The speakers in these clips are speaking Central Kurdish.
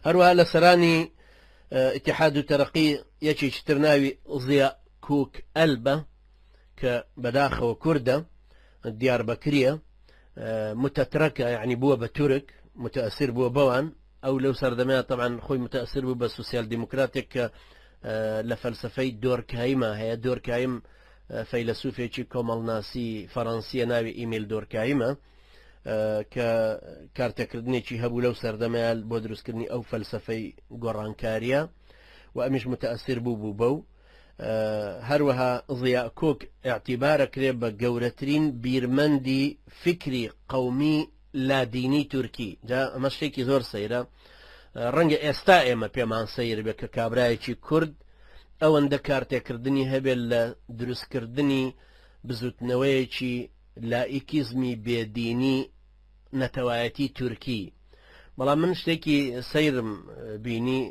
هەروەها لە سەرانی ئیتیحاد و تەرەقی یەکێکی تر ناوی ضیا کوک ئەل بە کە بەداخەوە کوردە دیاربەکریە متەترەکە یعنی بووە بە تورک متەسیر بووە بەوان ئەو لەو سەردەمەیە طبعا خۆی متەسیر بوو بە سوسیال دیموکراتێک کە لە فەلسفەی دۆرکایمە هەیە دۆرکایم فەیلسوفێکی کۆمەڵناسی فەڕەنسیە ناوی ئیمیل دۆرکایمە کە کارتەکردنێکی هەبوو لەو سەردەمەیان بۆ دروستکردنی ئەو فەلسفەی گۆڕانکاریە و ئەمیش متەسیر بوو بوو بە و هەروەها ضیا کۆک اعتیبارە کرێ بە گەورەترین بیرمەندی فکری قومی لادینی تورکی جا ئەمە شتێکی زۆر سەیرە ڕەنگە ئێستا ئێمە پێمان سیر بێت کە کابراایەکی کورد ئەوەندە کارتێکردنی هەبێت لە دروستکردنی بزوتنەوەیەکی لائیکیزمی بێ دینی نەتەوایەتی تورکی بەڵام من شتێکی سەیرم بینی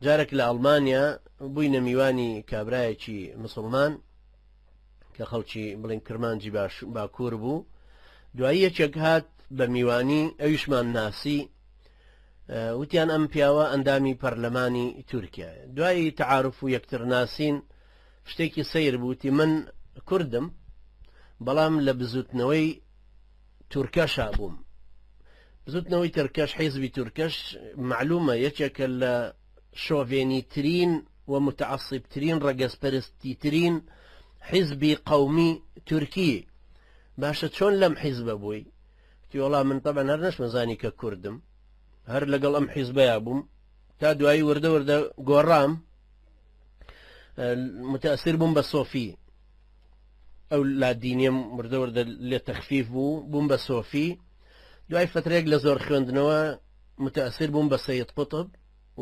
جارێک لە ئەڵمانیا بووینە میوانی کابرایەکی مسلمان کە خەڵکی بڵین کرمانجی باش باکوور بوو دوایی یەکێک هات بە میوانی ئەویشمان ناسی وتیان ئەم پیاوە ئەندامی پەرلەمانی تورکیا دوایی تعاعرف و یەکتر ناسین شتێکی سەیر بوو وتی من کوردم بەڵام لە بزوتنەوەی تورکەشا بووم بزوتنەوەی ترکەش حیزبی تورکەش معلومە یەکێکە لە شۆڤێنی ترین و متعصب ترین ڕەگەزپەرستی ترین حیزبی قەومی تورکی باشە چۆن لەم حیزبە بووی تیۆڵا من طبعا هەر نەشمەزانی کە کوردم هەر لەگەڵ ئەم حیزبەیە بووم تا دوایی وردە وردە گۆڕام متاثر بووم بە سۆفی ئەو لادینیە مردەوردە لێ تەخفیف بوو بووم بە سۆفی دوای فترێک لە زۆر خوێندنەوە متاثر بووم بە سید قوتب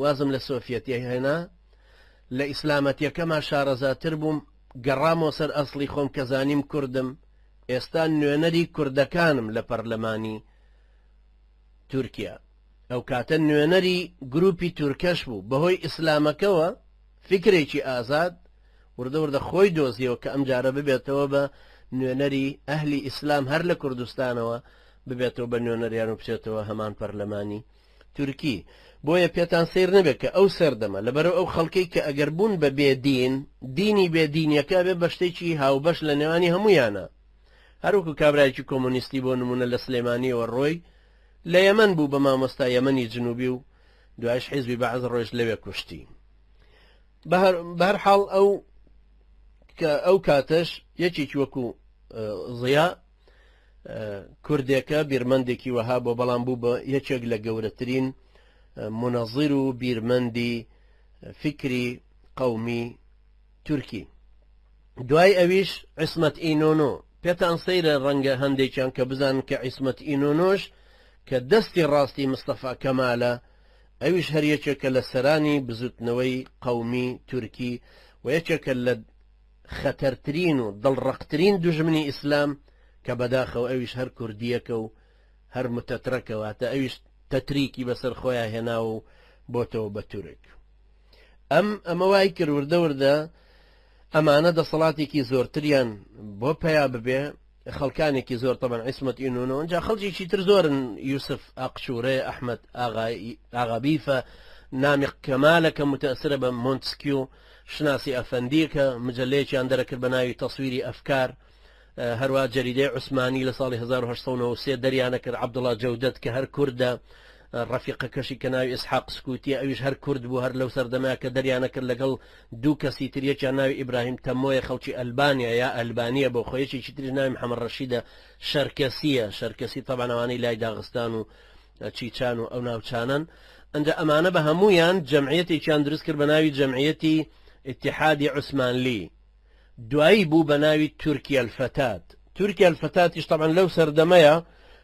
وازم لە سۆفیەتی هێنا لە ئیسلامەتیەکەما شارەزاتر بووم گەڕامۆ سەر ئەسڵی خۆم کە زانیم کوردم ئێستا نوێنەری کوردەکانم لە پەرلەمانی تورکیا ئەوکاتە نوێنەری گروپی تورکەش بوو بەهۆی ئیسلامەکەوە فیکرێکی ئازاد وردە وردە خۆی دۆزیەوە کە ئەمجارە ببێتەوە بە نوێنەری ئەهلی ئیسلام هەر لە کوردستانەوە ببێتەوە بە نوێنەریان و بچێتەوە هەمان پەرلەمانی تورکی بۆیە پێتان سیر نەبێت کە ئەو سەردەمە لەبەرو ئەو خەڵکەی کە ئەگەر بوون بە بێدین دینی بێدینیەکە بێ بە شتێکی هاوبەش لە نێوانی هەمویانە هەروکو کابراایکی کۆمۆنیستی بۆ نمونە لە سلێمانیەوە ڕۆی لە یەمەن بوو بە مامۆستا یەمەنی جنوبی و دوایش حیزبی بەعس ڕۆیشت لەوێ کوشتی بەهەر حاڵ ئەو کە ئەو کاتەش یەکێکی وەکو ضیا کوردێکە بیرمەندێکی وەها بۆ بەڵام بوو بە یەکێک لە گەورەترین منەظیر و بیرمەندی فکری قومی تورکی دوای ئەویش عسمەت ئینۆنۆ پێتان سەیرە ڕەنگە هەندێکیان کە بزانن کە عیسمەت ئینۆنۆش کە دەستی ڕاستی مستەفا کەمالە ئەویش هەر یەکێکە لە سەرانی بزوتنەوەی قەومی تورکی و یەکێکە لە خەتەرترین و دڵڕەقترین دوژمنی ئیسلام کە بەداخەوە ئەویش هەر کوردیەکە و هەر متەترەکە واتە ئەویش تەتریکی بەسەر خۆیان هێناوە و بۆتەوە بە تورک. ئەم ئەمە وای کرد وردە وردە ئەمانە دەسەڵاتێکی زۆرتریان بۆ پیا ببێ خەڵکانێکی زۆر تەبەن عیسمەت ئینونە ئەجا خەڵکیی تر زۆرن یوسف ئاقشورێ ئەحمد ئاغابیفە نامی کەمالەکە متەسرە بە مۆنتسکیو شناسی ئەفەندیەکە مجلەیەکیان دەرەکرد بە ناوی تەسویری ئەفکار هەروا جەریدەی عوسمانی لە ساڵی 1993 دەریانەکرد عەبدوڵا جەودەت کە هەر کوردە ڕەفیقەکەشی کە ناوی ئسحاق سکووتی ئەویش هەر کورد بوو هەر لەو سەردەمە کە دەریانەکرد لەگەڵ دوو کەسی تر یەکیان ناوی ئیبراهیم تەمۆیە خەڵکی ئەلبانیا یا ئەلبانیە بۆ خۆ یەکێکی تریش ناوی محەمەد ڕەشیدە شەرکەسیە شەرکەسی تەبان ئەوانەی لای داغستان و چیچان و ئەو ناوچانن ئەنجا ئەمانە بە هەمویان جەمعیەتێکیان دروست کرد بە ناوی جەمعیەتی اتحادی عوسمانلی دوایی بوو بە ناوی تورکی الفتات تورکی الفتاتیش تەبعەن لەو سەردەمەیا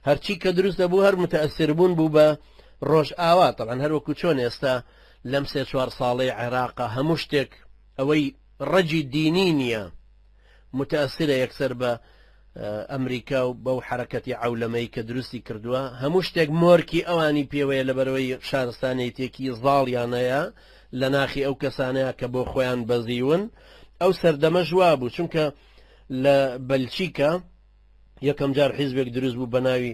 هەرچی کە دروست دەبوو هەر متەئەسیر بوون بوو بە ڕۆژئاوا تەبعەن هەر وەکو چۆن ئێستا لەم سێ چوار ساڵەی عێراقا هەموو شتێک ئەوەی ڕەگی دینی نییە متەئەسیرە یەکسەر بە ئەمریکا و بەو حەرەکەتی عەولەمەی کە دروستی کردووە هەموو شتێک مۆرکی ئەوانی پێوەیە لەبەرئەوەی شارستانێیتێکی زاڵیان هەیە لە ناخی ئەو کەسانەیە کە بۆ خۆیان بەزیون ئەو سەردەمەش وابوو چونکە لە بەلچیکا یەکەم جار حیزبێک دروست بوو بە ناوی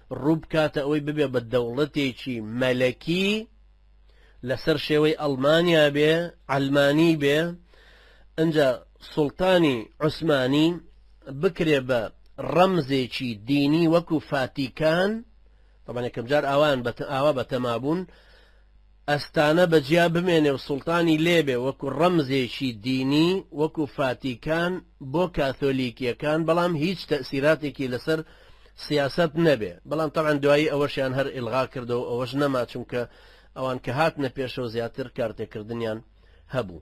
ڕووبکاتە ئەوەی ببێ بە دەوڵەتێکی مەلەکی لەسەر شێوەی ئەڵمانیا بێ عەلمانی بێ ئەجا سوڵتانی عوسمانی بکرێ بە ڕەمزێکی دینی وەکو فاتیکان طبعا یەکەم جار ئاوان بە ئاوا بە تەمابوون ئەستانە بە جیا بمێنێ و سوڵتانی لێ بێ وەکو ڕەمزێکی دینی وەکو فاتیکان بۆ کاثۆلیکیەکان بەڵام هیچ تەئسیراتێکی لەسەر سیاسەت نەبێ بەڵام تەبعەن دوایی ئەوەشیان هەر ئیلغا کردەوە و ئەوەش نەما چونکە ئەوان کە هاتنە پێشەوە زیاتر کارتێکردنیان هەبوو.